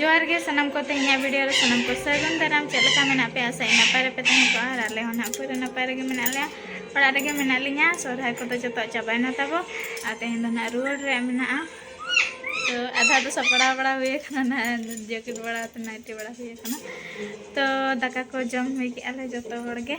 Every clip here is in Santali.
ᱡᱚᱦᱟᱨ ᱜᱮ ᱥᱟᱱᱟᱢ ᱠᱚ ᱛᱮᱦᱮᱧᱟᱜ ᱵᱷᱤᱰᱤᱭᱳ ᱨᱮ ᱥᱟᱱᱟᱢ ᱠᱚ ᱥᱟᱹᱜᱩᱱ ᱫᱟᱨᱟᱢ ᱪᱮᱫ ᱞᱮᱠᱟ ᱢᱮᱱᱟᱜ ᱯᱮᱭᱟ ᱟᱥᱟᱭ ᱱᱟᱯᱟᱭ ᱨᱮᱯᱮ ᱛᱟᱦᱮᱸ ᱠᱚᱜᱼᱟ ᱟᱨ ᱟᱞᱮ ᱦᱚᱸ ᱱᱟᱦᱟᱜ ᱯᱩᱨᱟᱹ ᱱᱟᱯᱟᱭ ᱨᱮᱜᱮ ᱢᱮᱱᱟᱜ ᱞᱮᱭᱟ ᱚᱲᱟᱜ ᱨᱮᱜᱮ ᱢᱮᱱᱟᱜ ᱞᱤᱧᱟ ᱥᱚᱨᱦᱟᱭ ᱠᱚᱫᱚ ᱡᱚᱛᱚ ᱪᱟᱵᱟᱭᱮᱱᱟ ᱛᱟᱵᱚ ᱟᱨ ᱛᱮᱦᱮᱧ ᱫᱚ ᱱᱟᱦᱟᱜ ᱨᱩᱣᱟᱹᱲ ᱨᱮᱭᱟᱜ ᱢᱮᱱᱟᱜᱼᱟ ᱛᱚ ᱟᱫᱷᱟ ᱫᱚ ᱥᱟᱯᱲᱟᱣ ᱵᱟᱲᱟ ᱦᱩᱭ ᱟᱠᱟᱱᱟ ᱱᱟᱦᱟᱜ ᱡᱮᱠᱮᱴ ᱵᱟᱲᱟ ᱛᱮ ᱱᱟᱭᱴᱤ ᱵᱟᱲᱟ ᱦᱩᱭ ᱟᱠᱟᱱᱟ ᱛᱚ ᱫᱟᱠᱟ ᱠᱚ ᱡᱚᱢ ᱦᱩᱭ ᱠᱮᱜᱼᱟ ᱞᱮ ᱡᱚᱛᱚ ᱦᱚᱲ ᱜᱮ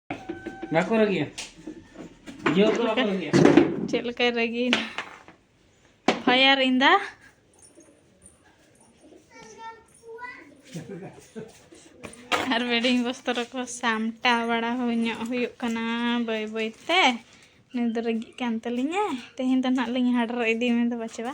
ᱵᱟᱠᱚ ᱨᱟᱹᱜᱤᱭᱟ ᱡᱤᱭᱟᱹ ᱠᱚ ᱵᱟᱠᱚ ᱨᱟᱹᱜᱤᱭᱟ ᱪᱮᱫ ᱞᱮᱠᱟᱭ ᱨᱟᱹᱜᱤᱭᱮᱱᱟ ᱯᱷᱟᱭᱟᱨ ᱤᱱᱫᱟ ᱟᱨ ᱵᱮᱰᱤᱝ ᱵᱚᱥᱛᱚᱨ ᱠᱚ ᱥᱟᱢᱴᱟᱣ ᱵᱟᱲᱟ ᱦᱩᱭ ᱧᱚᱜ ᱦᱩᱭᱩᱜ ᱠᱟᱱᱟ ᱵᱟᱹᱭ ᱵᱟᱹᱭ ᱛᱮ ᱱᱩᱭ ᱫᱚ ᱨᱟᱹᱜᱤᱜ ᱠᱟᱱ ᱛᱟᱹᱞᱤᱧᱟᱭ ᱛᱮᱦᱮᱧ ᱫᱚ ᱱᱟᱦᱟᱜ ᱞᱤᱧ ᱦᱟᱰᱨᱚ ᱤᱫᱤ ᱢᱮ ᱫᱚ ᱵᱟᱪᱮ ᱵᱟ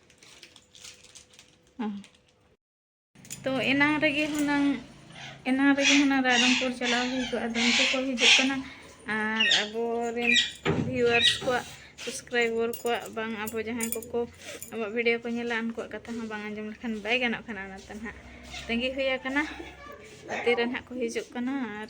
ᱛᱚ ᱮᱱᱟᱝ ᱨᱮᱜᱮ ᱦᱩᱱᱟᱹᱝ ᱮᱱᱟᱝ ᱨᱮᱜᱮ ᱦᱩᱱᱟᱹᱝ ᱨᱟᱭᱨᱚᱝᱯᱩᱨ ᱪᱟᱞᱟᱣ ᱦᱩᱭ ᱠᱚᱜᱼᱟ ᱟᱫᱚ ᱩᱱᱠᱩ ᱠᱚ ᱦᱤᱡᱩᱜ ᱠᱟᱱᱟ ᱟᱨ ᱟᱵᱚᱨᱮᱱ ᱵᱷᱤᱣᱟᱨᱥ ᱠᱚᱣᱟᱜ ᱥᱟᱵᱥᱠᱨᱟᱭᱵᱚᱨ ᱠᱚᱣᱟᱜ ᱵᱟᱝ ᱟᱵᱚ ᱡᱟᱦᱟᱸᱭ ᱠᱚᱠᱚ ᱟᱵᱚᱣᱟᱜ ᱵᱷᱤᱰᱤᱭᱳ ᱠᱚ ᱧᱮᱞᱟ ᱩᱱᱠᱩᱣᱟᱜ ᱠᱟᱛᱷᱟ ᱦᱚᱸ ᱵᱟᱝ ᱟᱸᱡᱚᱢ ᱞᱮᱠᱷᱟᱱ ᱵᱟᱭ ᱜᱟᱱᱚᱜ ᱠᱟᱱᱟ ᱚᱱᱟᱛᱮ ᱱᱟᱦᱟᱜ ᱛᱟᱺᱜᱤ ᱦᱩᱭ ᱟᱠᱟᱱᱟ ᱛᱤᱨᱮ ᱱᱟᱦᱟᱜ ᱠᱚ ᱦᱤᱡᱩᱜ ᱠᱟᱱᱟ ᱟᱨ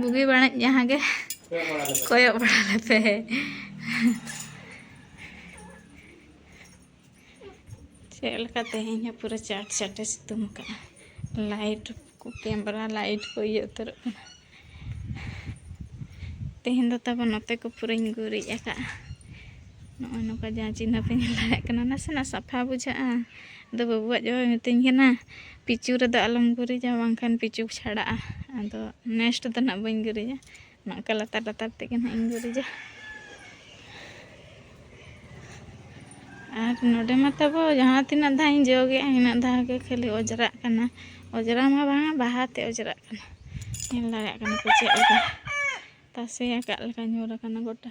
ᱵᱩᱜᱤ ᱵᱟᱹᱲᱤᱡ ᱡᱟᱦᱟᱸ ᱜᱮ ᱠᱚᱭᱚᱜ ᱵᱟᱲᱟ ᱞᱮᱯᱮ ᱪᱮᱫ ᱞᱮᱠᱟ ᱛᱮᱦᱮᱧ ᱦᱚᱸ ᱯᱩᱨᱟᱹ ᱪᱟᱴ ᱪᱟᱴᱮ ᱥᱤᱛᱩᱝ ᱟᱠᱟᱫᱼᱟ ᱞᱟᱭᱤᱴ ᱠᱚ ᱠᱮᱢᱨᱟ ᱞᱟᱭᱤᱴ ᱠᱚ ᱤᱭᱟᱹ ᱩᱛᱟᱹᱨᱚᱜ ᱠᱟᱱᱟ ᱛᱮᱦᱮᱧ ᱫᱚ ᱛᱟᱵᱚ ᱱᱚᱛᱮ ᱠᱚ ᱯᱩᱨᱟᱹᱧ ᱜᱩᱨᱤᱡ ᱟᱠᱟᱫᱼᱟ ᱱᱚᱜᱼᱚᱭ ᱱᱚᱝᱠᱟ ᱡᱟᱦᱟᱸ ᱪᱤᱱᱦᱟᱹᱯᱮ ᱧᱮᱞ ᱫᱟᱲᱮᱭᱟᱜ ᱠᱟᱱᱟ ᱱᱟᱥᱮᱱᱟᱜ ᱥᱟᱯᱷᱟ ᱵᱩᱡᱷᱟᱹᱜᱼᱟ ᱟᱫᱚ ᱵᱟᱹᱵᱩ ᱟᱡ ᱵᱟᱵᱟᱭ ᱢᱤᱛᱟᱹᱧ ᱠᱟᱱᱟ ᱯᱤᱪᱩ ᱨᱮᱫᱚ ᱟᱞᱚᱢ ᱜᱩᱨᱤᱡᱟ ᱵᱟᱝᱠᱷᱟᱱ ᱯᱤᱪᱩ ᱪᱷᱟᱲᱟᱜᱼᱟ ᱟᱫᱚ ᱱᱮᱥᱴ ᱫᱚ ᱱᱟᱜ ᱵᱟᱹᱧ ᱜᱩᱨᱤᱡᱟ ᱱᱚᱝᱠᱟ ᱞᱟᱛᱟᱨ ᱞᱟᱛᱟᱨ ᱛᱮᱜᱮ ᱱᱟᱜ ᱤᱧ ᱜᱩᱨᱤᱡᱟ ᱟᱨ ᱱᱚᱰᱮ ᱢᱟ ᱛᱟᱵᱚ ᱡᱟᱦᱟᱸ ᱛᱤᱱᱟᱹᱜ ᱫᱷᱟᱣ ᱤᱧ ᱡᱚᱜᱮᱜᱼᱟ ᱤᱱᱟᱹᱜ ᱫᱷᱟᱣ ᱜᱮ ᱠᱷᱟᱹᱞᱤ ᱚᱡᱽᱨᱟᱜ ᱠᱟᱱᱟ ᱚᱡᱽᱨᱟ ᱢᱟ ᱵᱟᱝᱟ ᱵᱟᱦᱟ ᱛᱮ ᱚᱡᱽᱨᱟᱜ ᱠᱟᱱᱟ ᱧᱮᱞ ᱫᱟᱲᱮᱭᱟᱜ ᱠᱟᱱᱟ ᱯᱮ ᱪᱮᱫ ᱞᱮᱠᱟ ᱛᱟᱥᱮ ᱟᱠᱟᱫ ᱞᱮᱠᱟ ᱧᱩᱨ ᱟᱠᱟᱱᱟ ᱜᱚᱴᱟ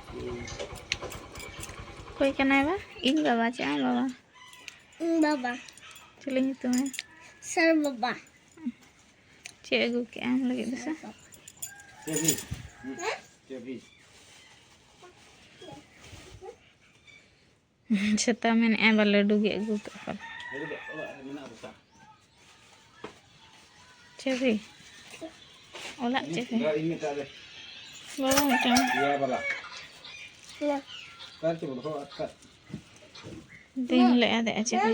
ᱚᱠᱚᱭ ᱠᱟᱱᱟᱭ ᱵᱟ ᱤᱧ ᱵᱟᱵᱟ ᱪᱮᱫ ᱟᱢ ᱵᱟᱵᱟ ᱤᱧ ᱵᱟᱵᱟ ᱪᱮᱫ ᱧᱩᱛᱩᱢ ᱮ ᱥᱟᱨ ᱵᱟᱵᱟ ᱪᱮᱫ ᱟᱹᱜᱩ ᱠᱮᱜ ᱟᱢ ᱞᱟᱹᱜᱤᱫ ᱫᱚ ᱥᱮ ᱪᱮᱵᱤ ᱪᱮᱵᱤ ᱥᱮᱛᱟ ᱢᱮᱱᱮᱫᱼᱟ ᱵᱟ ᱞᱟᱹᱰᱩ ᱜᱮ ᱟᱹᱜᱩ ᱠᱟᱜ ᱠᱟᱱᱟ ᱪᱟᱹᱵᱤ ᱚᱲᱟᱜ ᱪᱟᱹᱵᱤ ᱵᱟᱵᱟ ᱢᱤᱫᱴᱟᱝ ᱫᱤᱱ ᱞᱮ ᱟᱫᱮᱜᱼᱟ ᱪᱟᱹᱵᱤ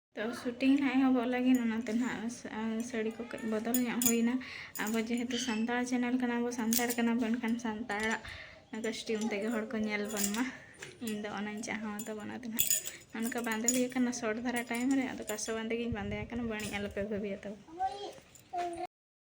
ᱛᱚ ᱥᱩᱴᱤᱝ ᱱᱟᱦᱟᱜ ᱮᱦᱚᱵᱚᱜ ᱞᱟᱹᱜᱤᱫ ᱚᱱᱟᱛᱮ ᱱᱟᱦᱟᱜ ᱥᱟᱹᱲᱤ ᱠᱚ ᱠᱟᱹᱡ ᱵᱚᱫᱚᱞ ᱧᱚᱜ ᱦᱩᱭᱱᱟ ᱟᱵᱚ ᱡᱮᱦᱮᱛᱩ ᱥᱟᱱᱛᱟᱲ ᱪᱮᱱᱮᱞ ᱠᱟᱱᱟ ᱵᱚ ᱥᱟᱱᱛᱟᱲ ᱠᱟᱱᱟ ᱵᱚ ᱮᱱᱠᱷᱟᱱ ᱥᱟᱱᱛᱟᱲᱟᱜ ᱠᱚᱥᱴᱤᱭᱩᱢ ᱛᱮᱜᱮ ᱦᱚᱲ ᱠᱚ ᱧᱮᱞ ᱵᱚᱱ ᱢᱟ ᱤᱧ ᱫᱚ ᱚᱱᱟᱧ ᱪᱟᱦᱟᱣ ᱛᱟᱵᱚ ᱚᱱᱟᱛᱮ ᱱᱟᱦᱟᱜ ᱚᱱᱠᱟ ᱵᱟᱸᱫᱮ ᱦᱩᱭ ᱟᱠᱟᱱᱟ ᱥᱚᱨᱴ ᱫᱷᱟᱨᱟ ᱴᱟᱭᱤᱢ ᱨᱮ ᱟᱫᱚ ᱠᱟᱥᱚ ᱵᱟᱸᱫᱮ ᱜᱤᱧ ᱵᱟᱸᱫᱮ ᱟᱠᱟᱱᱟ ᱵᱟᱹᱲᱤᱡ ᱟᱞᱚᱯᱮ ᱵᱷᱟᱹᱵᱤᱭᱟ ᱛᱟᱵᱚ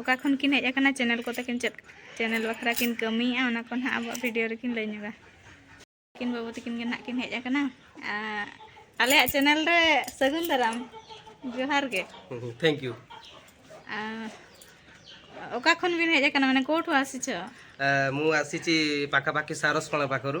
ᱚᱠᱟ ᱠᱷᱚᱱ ᱠᱤᱱ ᱦᱮᱡ ᱟᱠᱟᱱᱟ ᱪᱮᱱᱮᱞ ᱠᱚᱛᱮ ᱠᱤᱱ ᱪᱮᱫ ᱪᱮᱱᱮᱞ ᱵᱟᱠᱷᱨᱟ ᱠᱤᱱ ᱠᱟᱹᱢᱤᱭᱮᱫᱼᱟ ᱚᱱᱟ ᱠᱚ ᱱᱟᱦᱟᱜ ᱟᱵᱚᱣᱟᱜ ᱵᱷᱤᱰᱤᱭᱳ ᱨᱮᱠᱤᱱ ᱞᱟᱹᱭ ᱧᱚᱜᱟ ᱠᱤᱱ ᱵᱟᱹᱵᱩ ᱛᱟᱹᱠᱤᱱ ᱜᱮ ᱱᱟᱦᱟᱜ ᱠᱤᱱ ᱦᱮᱡ ᱟᱠᱟᱱᱟ ᱟᱞᱮᱭᱟᱜ ᱪᱮᱱᱮᱞ ᱨᱮ ᱥᱟᱹᱜᱩᱱ ᱫᱟᱨᱟᱢ ᱡᱚᱦᱟᱨ ᱜᱮ ᱛᱷᱮᱝᱠ ᱭᱩ ᱚᱠᱟ ᱠᱷᱚᱱ ᱵᱤᱱ ᱦᱮᱡ ᱟᱠᱟᱱᱟ ᱢᱟᱱᱮ ᱠᱳᱴ ᱦᱚᱸ ᱟᱥᱤᱪᱚ ᱢᱩ ᱟᱥᱤᱪᱤ ᱯᱟᱠᱟᱯᱟᱠᱤ ᱥᱟᱨᱚᱥ ᱠᱚᱬᱟ ᱯᱟᱠᱚᱨᱩ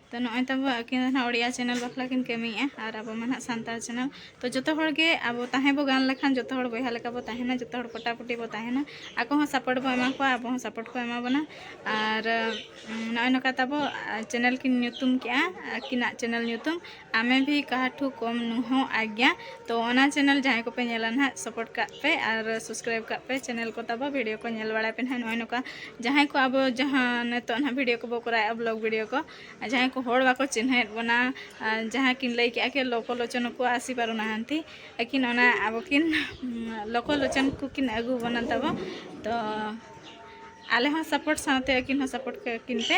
ᱛᱚ ᱱᱚᱜᱼᱚᱭ ᱛᱟᱵᱚ ᱟᱹᱠᱤᱱ ᱫᱚ ᱱᱟᱦᱟᱜ ᱳᱲᱤᱭᱟ ᱪᱮᱱᱮᱞ ᱵᱟᱠᱷᱨᱟ ᱠᱤᱱ ᱠᱟᱹᱢᱤᱭᱮᱫᱼᱟ ᱟᱨ ᱟᱵᱚ ᱢᱟ ᱱᱟᱦᱟᱜ ᱥᱟᱱᱛᱟᱲ ᱪᱮᱱᱮᱞ ᱛᱚ ᱡᱚᱛᱚ ᱦᱚᱲ ᱜᱮ ᱟᱵᱚ ᱛᱟᱦᱮᱸ ᱵᱚ ᱜᱟᱱ ᱞᱮᱠᱷᱟᱱ ᱡᱚᱛᱚ ᱦᱚᱲ ᱵᱚᱭᱦᱟ ᱞᱮᱠᱟ ᱵᱚ ᱛᱟᱦᱮᱱᱟ ᱡᱚᱛᱚ ᱦᱚᱲ ᱯᱚᱴᱟᱯᱚᱴᱤ ᱵᱚ ᱛᱟᱦᱮᱱᱟ ᱟᱠᱚ ᱦᱚᱸ ᱥᱟᱯᱳᱨᱴ ᱵᱚ ᱮᱢᱟ ᱠᱚᱣᱟ ᱟᱵᱚ ᱦᱚᱸ ᱥᱟᱯᱳᱨᱴ ᱠᱚ ᱮᱢᱟ ᱵᱚᱱᱟ ᱟᱨ ᱱᱚᱜᱼᱚᱭ ᱱᱚᱝᱠᱟ ᱛᱟᱵᱚ ᱪᱮᱱᱮᱞ ᱠᱤᱱ ᱧᱩᱛᱩᱢ ᱠᱮᱫᱼᱟ ᱟᱹᱠᱤᱱᱟᱜ ᱪᱮᱱᱮᱞ ᱧᱩᱛᱩᱢ ᱟᱢᱮ ᱵᱷᱤ ᱠᱟᱦᱟ ᱴᱷᱩ ᱠᱚᱢ ᱱᱩᱦᱳ ᱟᱜᱽᱜᱟ ᱛᱚ ᱚᱱᱟ ᱪᱮᱱᱮᱞ ᱡᱟᱦᱟᱸᱭ ᱠᱚᱯᱮ ᱧᱮᱞᱟ ᱱᱟᱦᱟᱜ ᱥᱟᱯᱳᱨᱴ ᱠᱟᱜ ᱯᱮ ᱟᱨ ᱥᱟᱵᱥᱠᱨᱟᱭᱤᱵ ᱠᱟᱜ ᱯᱮ ᱪᱮᱱᱮᱞ ᱠᱚ ᱛᱟᱵᱚ ᱵᱷᱤᱰᱤᱭᱳ ᱠᱚ ᱧᱮᱞ ᱵᱟᱲᱟᱭ ᱯᱮ ᱱᱟᱦᱟᱜ ᱱᱚᱜᱼᱚᱭ ᱱᱚᱝᱠᱟ ᱡᱟᱦᱟᱸᱭ ᱠᱚ ᱟᱵᱚ ᱡᱟᱦᱟᱸ ᱱᱤᱛᱚᱜ ᱱᱟᱦᱟᱜ ᱵᱷᱤᱰᱤᱭᱳ ᱠᱚᱵᱚ ᱠᱚᱨᱟᱣᱮᱫᱼᱟ ᱵᱞᱚᱜ ᱵᱷᱤᱰᱤᱭᱳ ᱠᱚ ᱡᱟᱦᱟᱸᱭ ᱠᱚ ᱦᱚᱲ ᱵᱟᱠᱚ ᱪᱤᱱᱦᱟᱹᱭᱮᱫ ᱵᱚᱱᱟ ᱡᱟᱦᱟᱸ ᱠᱤᱱ ᱞᱟᱹᱭ ᱠᱮᱜᱼᱟ ᱠᱤ ᱞᱚᱠᱚ ᱞᱚᱪᱚᱱ ᱠᱚ ᱟᱥᱤ ᱯᱟᱨᱚ ᱱᱟᱦᱟᱱᱛᱤ ᱟᱹᱠᱤᱱ ᱚᱱᱟ ᱟᱵᱚ ᱠᱤᱱ ᱞᱚᱠᱚ ᱞᱚᱪᱚᱱ ᱠᱚ ᱠᱤᱱ ᱟᱹᱜᱩ ᱵᱚᱱᱟ ᱛᱟᱵᱚ ᱛᱚ ᱟᱞᱮ ᱦᱚᱸ ᱥᱟᱯᱳᱨᱴ ᱥᱟᱶᱛᱮ ᱟᱹᱠᱤᱱ ᱦᱚᱸ ᱥᱟᱯᱳᱨᱴ ᱠᱟᱹᱠᱤᱱ ᱯᱮ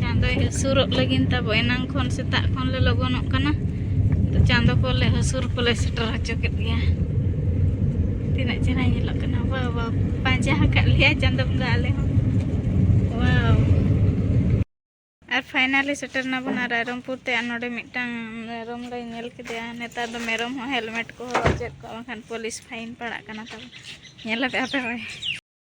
ᱪᱟᱸᱫᱚᱭ ᱦᱟᱹᱥᱩᱨᱚᱜ ᱞᱟᱹᱜᱤᱫ ᱛᱟᱵᱚ ᱮᱱᱟᱝ ᱠᱷᱚᱱ ᱥᱮᱛᱟᱜ ᱠᱷᱚᱱ ᱞᱮ ᱞᱚᱜᱚᱱᱚᱜ ᱠᱟᱱᱟ ᱛᱚ ᱪᱟᱸᱫᱚ ᱠᱚᱞᱮ ᱦᱟᱹᱥᱩᱨ ᱠᱚᱞᱮ ᱥᱮᱴᱮᱨ ᱦᱚᱪᱚ ᱠᱮᱫ ᱜᱮᱭᱟ ᱛᱤᱱᱟᱹᱜ ᱪᱮᱦᱨᱟ ᱧᱮᱞᱚᱜ ᱠᱟᱱᱟ ᱵᱟ ᱵᱟ ᱯᱟᱸᱡᱟ ᱟᱠᱟᱫ ᱞᱮᱭᱟ ᱪᱟᱸᱫᱚ ᱵᱚᱸᱜᱟ ᱟᱞᱮ ᱦᱚᱸ ᱣᱟᱣ ᱟᱨ ᱯᱷᱟᱭᱱᱟᱞᱤ ᱥᱮᱴᱮᱨ ᱱᱟᱵᱚᱱ ᱟᱨ ᱨᱟᱭᱨᱚᱝᱯᱩᱨ ᱛᱮ ᱟᱨ ᱱᱚᱰᱮ ᱢᱤᱫᱴᱟᱝ ᱢᱮᱨᱚᱢ ᱞᱮ ᱧᱮᱞ ᱠᱮᱫᱮᱭᱟ ᱱᱮᱛᱟᱨ ᱫᱚ ᱢᱮᱨᱚᱢ ᱦᱚᱸ ᱦᱮᱞᱢᱮᱴ ᱠᱚ ᱦᱚᱨᱚᱜ ᱪᱮᱫ ᱠᱚ ᱵᱟᱝᱠᱷᱟᱱ ᱯᱩᱞᱤᱥ ᱯᱷᱟᱭᱤᱱ ᱯᱟᱲᱟᱜ ᱠᱟᱱᱟ ᱛᱟᱵᱚᱱ ᱧᱮᱞ ᱟᱯᱮ ᱟᱯᱮ ᱦᱚᱸ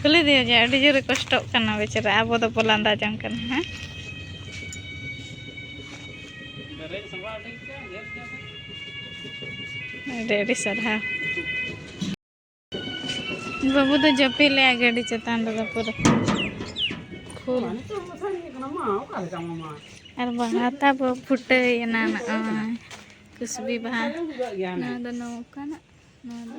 ᱠᱩᱞᱤ ᱫᱤᱭᱟ ᱡᱮ ᱟᱹᱰᱤ ᱡᱳᱨᱮ ᱠᱚᱥᱴᱚᱜ ᱠᱟᱱᱟ ᱵᱮᱪᱟᱨᱟ ᱟᱵᱚ ᱫᱚ ᱵᱚ ᱞᱟᱸᱫᱟ ᱡᱚᱝ ᱠᱟᱱᱟ ᱦᱮᱸ ᱟᱹᱰᱤ ᱟᱹᱰᱤ ᱥᱟᱨᱦᱟᱣ ᱵᱟᱹᱵᱩ ᱫᱚ ᱡᱟᱹᱯᱤᱫ ᱞᱮᱜᱼᱟ ᱜᱟᱹᱰᱤ ᱪᱮᱛᱟᱱ ᱨᱮᱫᱚ ᱯᱩᱨᱟᱹ ᱯᱷᱩᱞ ᱟᱨ ᱵᱟᱦᱟ ᱛᱟᱵᱚ ᱯᱷᱩᱴᱟᱹᱭᱮᱱᱟ ᱱᱚᱜᱼᱚᱭ ᱠᱩᱥᱵᱤ ᱵᱟᱦᱟ ᱱᱚᱣᱟ ᱫᱚ ᱱᱚᱝᱠᱟᱱᱟᱜ ᱱᱚᱣᱟ ᱫᱚ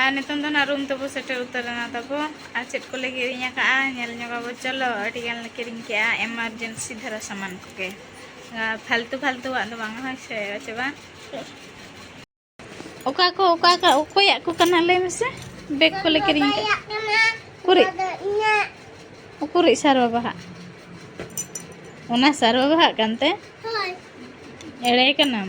ᱟᱨ ᱱᱤᱛᱚᱝ ᱫᱚ ᱱᱟᱜ ᱨᱩᱢ ᱛᱮᱵᱚ ᱥᱮᱴᱮᱨ ᱩᱛᱟᱹᱨᱮᱱᱟ ᱛᱟᱵᱚ ᱟᱨ ᱪᱮᱫ ᱠᱚᱞᱮ ᱠᱤᱨᱤᱧ ᱟᱠᱟᱫᱼᱟ ᱧᱮᱞ ᱧᱚᱜᱟᱵᱚ ᱪᱚᱞᱚ ᱟᱹᱰᱤ ᱜᱟᱱ ᱞᱮ ᱠᱤᱨᱤᱧ ᱠᱮᱫᱼᱟ ᱮᱢᱟᱨᱡᱮᱱᱥᱤ ᱫᱷᱟᱨᱟ ᱥᱟᱢᱟᱱ ᱠᱚᱜᱮ ᱯᱷᱟᱞᱛᱩ ᱯᱷᱟᱞᱛᱩᱣᱟᱜ ᱫᱚ ᱵᱟᱝ ᱦᱳᱭ ᱥᱮ ᱟᱪᱪᱷᱟ ᱵᱟᱝ ᱚᱠᱟ ᱠᱚ ᱚᱠᱟ ᱠᱚ ᱚᱠᱚᱭᱟᱜ ᱠᱚ ᱠᱟᱱᱟ ᱞᱟᱹᱭ ᱢᱮᱥᱮ ᱵᱮᱜᱽ ᱠᱚᱞᱮ ᱠᱤᱨᱤᱧ ᱠᱟᱜᱼᱟ ᱩᱠᱩᱨᱤᱡ ᱩᱠᱩᱨᱤᱡ ᱥᱟᱨ ᱵᱟᱵᱟᱦᱟᱜ ᱚᱱᱟ ᱥᱟᱨ ᱵᱟᱵᱟᱦᱟᱜ ᱠᱟᱱᱛᱮ ᱮᱲᱮ ᱠᱟᱱᱟᱢ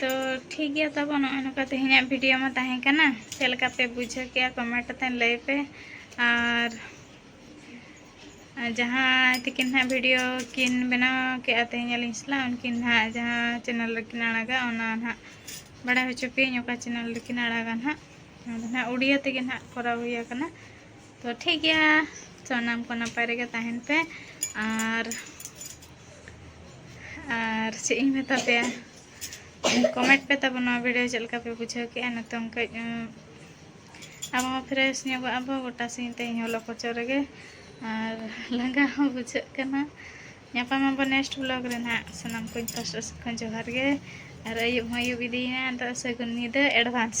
ᱛᱚ ᱴᱷᱤᱠ ᱜᱮᱭᱟ ᱛᱟᱵᱚ ᱱᱚᱜᱼᱚᱭ ᱱᱚᱝᱠᱟ ᱛᱮᱦᱮᱧᱟᱜ ᱵᱷᱤᱰᱤᱭᱳ ᱢᱟ ᱛᱟᱦᱮᱸ ᱠᱟᱱᱟ ᱪᱮᱫ ᱞᱮᱠᱟ ᱯᱮ ᱵᱩᱡᱷᱟᱹᱣ ᱠᱮᱜᱼᱟ ᱠᱚᱢᱮᱱᱴ ᱠᱟᱛᱮ ᱞᱟᱹᱭ ᱯᱮ ᱟᱨ ᱡᱟᱦᱟᱸᱭ ᱛᱤᱠᱤᱱ ᱦᱟᱸᱜ ᱵᱷᱤᱰᱤᱭᱳ ᱠᱤᱱ ᱵᱮᱱᱟᱣ ᱠᱮᱜᱼᱟ ᱛᱮᱦᱮᱧ ᱟᱹᱞᱤᱧ ᱥᱟᱞᱟᱜ ᱩᱱᱠᱤᱱ ᱦᱟᱸᱜ ᱡᱟᱦᱟᱸ ᱪᱮᱱᱮᱞ ᱨᱮᱠᱤᱱ ᱟᱲᱟᱜᱟ ᱚᱱᱟ ᱦᱟᱸᱜ ᱵᱟᱲᱟᱭ ᱦᱚᱪᱚ ᱯᱮᱭᱟᱹᱧ ᱚᱠᱟ ᱪᱮᱱᱮᱞ ᱨᱮᱠᱤᱱ ᱟᱲᱟᱜᱟ ᱦᱟᱸᱜ ᱟᱫᱚ ᱦᱟᱸᱜ ᱩᱲᱤᱭᱟ ᱛᱮᱜᱮ ᱦᱟᱸᱜ ᱠᱚᱨᱟᱣ ᱦᱩᱭ ᱟᱠᱟᱱᱟ ᱛᱚ ᱴᱷᱤᱠ ᱜᱮᱭᱟ ᱥᱟᱱᱟᱢ ᱠᱚ ᱱᱟᱯᱟᱭ ᱨᱮᱜᱮ ᱛᱟᱦᱮᱱ ᱯᱮ ᱟᱨ ᱟᱨ ᱪᱮᱫ ᱤᱧ ᱢᱮᱛᱟ ᱯᱮᱭᱟ ᱠᱚᱢᱮᱱᱴ ᱯᱮ ᱛᱟᱵᱚᱱ ᱱᱚᱣᱟ ᱵᱷᱤᱰᱤᱭᱳ ᱪᱮᱫ ᱞᱮᱠᱟ ᱯᱮ ᱵᱩᱡᱷᱟᱹᱣ ᱠᱮᱜᱼᱟ ᱱᱤᱛᱚᱝ ᱠᱟᱹᱡ ᱟᱵᱚ ᱦᱚᱸ ᱯᱷᱨᱮᱥ ᱧᱚᱜᱚᱜ ᱟᱵᱚ ᱜᱚᱴᱟ ᱥᱤᱧ ᱛᱮᱦᱮᱧ ᱦᱚᱞᱚ ᱠᱚᱪᱚ ᱨᱮᱜᱮ ᱟᱨ ᱞᱟᱸᱜᱟ ᱦᱚᱸ ᱵᱩᱡᱷᱟᱹᱜ ᱠᱟᱱᱟ ᱧᱟᱯᱟᱢ ᱟᱵᱚ ᱱᱮᱠᱥᱴ ᱵᱞᱚᱜ ᱨᱮ ᱱᱟᱦᱟᱜ ᱥᱟᱱᱟᱢ ᱠᱚᱧ ᱯᱟᱥᱴᱟ ᱥᱮᱫ ᱠᱷᱚᱱ ᱡᱚᱦᱟᱨ ᱜᱮ ᱟᱨ ᱟᱹᱭᱩᱵ ᱦᱚᱸ ᱟᱹᱭᱩᱵ ᱤᱫᱤᱭᱮᱱᱟ ᱟᱫᱚ ᱥᱟᱹᱜᱩᱱ ᱧᱤᱫᱟᱹ ᱮᱰᱵᱷᱟᱱᱥ